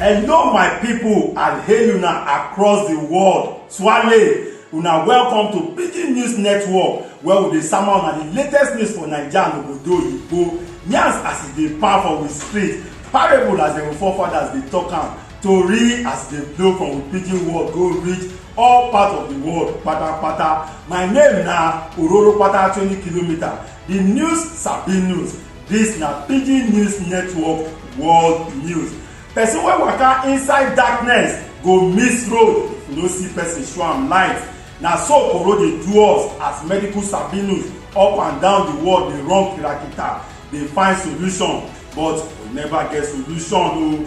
Hello my people and hail una across the world. Swale, una welcome to Pidgin News Network where we dey sama una the latest news for Naija and obodo oyibo. Yarns as e dey pound for we street, parable as dem forefathers dey talk am, tori as e dey blow from we pidgin world go reach all part of di world patapata my name na ororopata twenty kilometer di news sabi news dis na pidgin news network world news person wey waka inside darkness go miss road if you no see person show am light na so koro dey do us as medical sabi news up and down di world dey run kirakita dey find solution but we never get solution o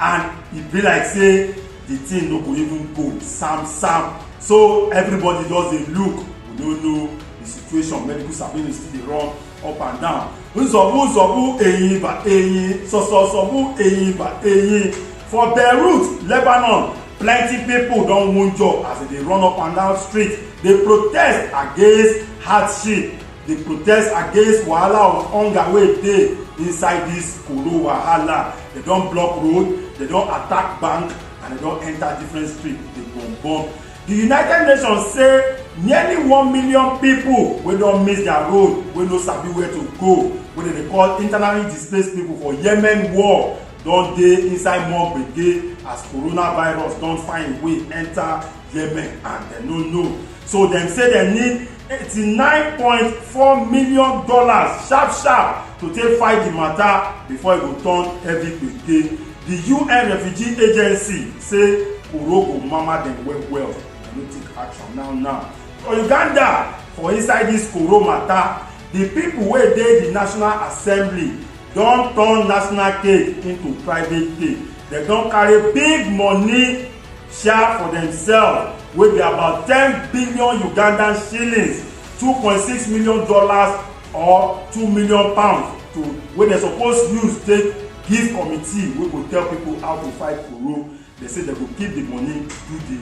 and e be like say the thing no go even go sam sam so everybody just dey look we no know the situation medical surveillance still dey run up and down nzọbu nzọbu eyin ba eyin sọsọsọbu eyin ba eyin for beirut lebanon plenty people don wunjure as they dey run up and down street dey protest against hardship dey protest against wahala of hunger wey dey inside this koro wahala They don't block road, they don't attack bank, and they don't enter different streets. They bomb bomb. The United Nations say nearly one million people wey don miss their road, wey no sabi where to go, wey dem dey call internally displaced people for Yemen war don dey inside more gbege as coronavirus don find way enter Yemen and dem no know. so dem say dem need eighty-nine point four million dollars sharp sharp to take fight di mata before e go turn heavy gbege di un refugee agency say koro go mama dem well well dem no take action now now for uganda for inside dis koro mata di pipo wey dey di national assembly don turn national cake into private cake dem don carry big money share for themselves wey be about ten billion ugandan shillings two point six million dollars or two million pounds to wey dem suppose use take give committee wey go tell people how to fight corona dem say dem go keep the money do the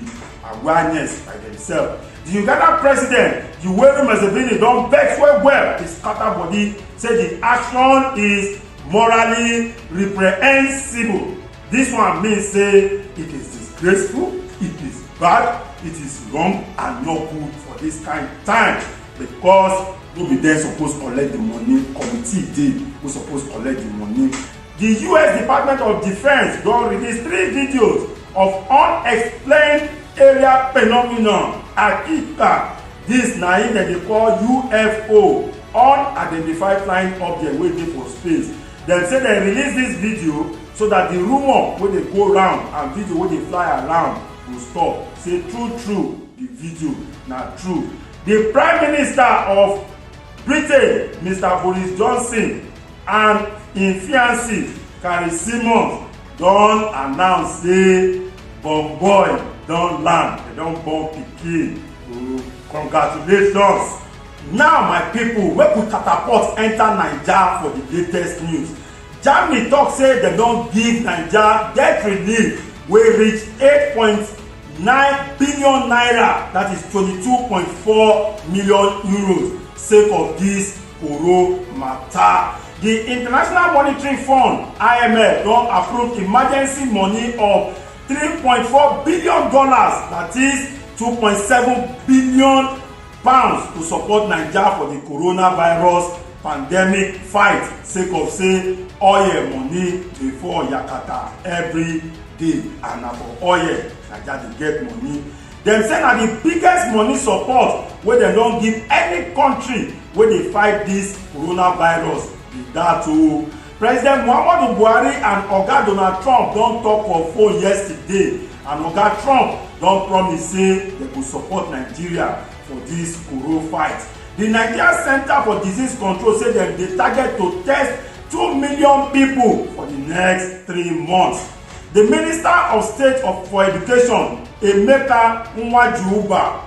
awareness by themselves the ugandan president yoweri museveni don vex well well dey scatter body say the action is morally reprehensible This one mean say it is disgraceful, it is bad, it is wrong and no good for this kind time because no be dem suppose collect the money committee dey who suppose collect the money the us department of defence don release three videos of unexplained area phenomenon akita dis na im dem dey call ufo unidentified flying object wey dey for space dem say dem release dis video so that the rumour wey dey go round and video wey dey fly around go stop say true true the video na true the prime minister of britain mr boris johnson and im fiancee carrie simons don announce say born boy don land dem don born pikin congratulations. now my pipo make we catapult enta naija for di latest news germany tok say dem don give naija debt relief wey reach n8.9 billion dat is n22.4 million sake of dis koro mata. di international monitoring fund imf don approve emergency money of n3.4 billion dat is n2.7 billion. pounds to support naija for di coronavirus pandemic fight sake of say oil money dey fall yakata every day and na for oil naija dey get money dem say na di biggest money support wey dem don give any country wey dey fight dis coronavirus be dat o President Muhammadu Buhari and Oga Donald Trump don tok for phone yesterday and Oga Trump don promise say dem go support Nigeria for dis Koro fight. Di Nigeria Centre for Disease Control say dem dey target to test two million pipo for di next three months. Di Minister of State for Education, Emeka Nwajiuba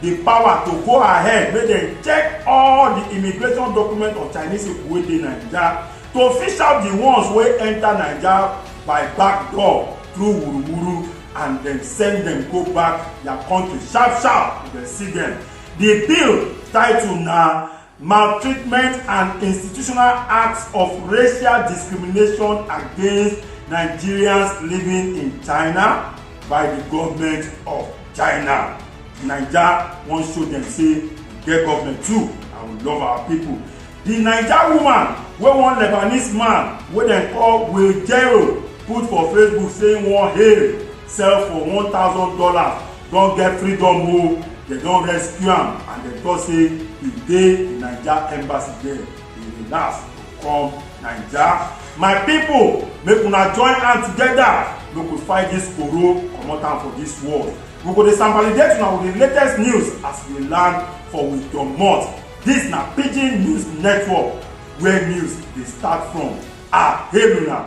di power to go ahead make dem check all di immigration documents of chinese pipo wey dey naija to fish out di ones wey enta naija by back door through wuruwuru and dem send dem go back dia kontri sharp sharp if dem see dem di bill title na maltreatment and institutional acts of racial discrimination against Nigerians living in China by the government of China. Naija wan show dem say we get government too and we love our people. The Naija woman wey one Lebanese man wey dem call Wejero put for Facebook say he wan hail sell for one thousand dollars don get freedom o dem don rescue am and dem tok say e dey di naija embassy there e relax to come naija my pipo make una join hand togeda make we fight dis koro comot am for dis world we go dey sambalidate una with di latest news as we land for we domot dis na pidgin news network where news dey start from aheluna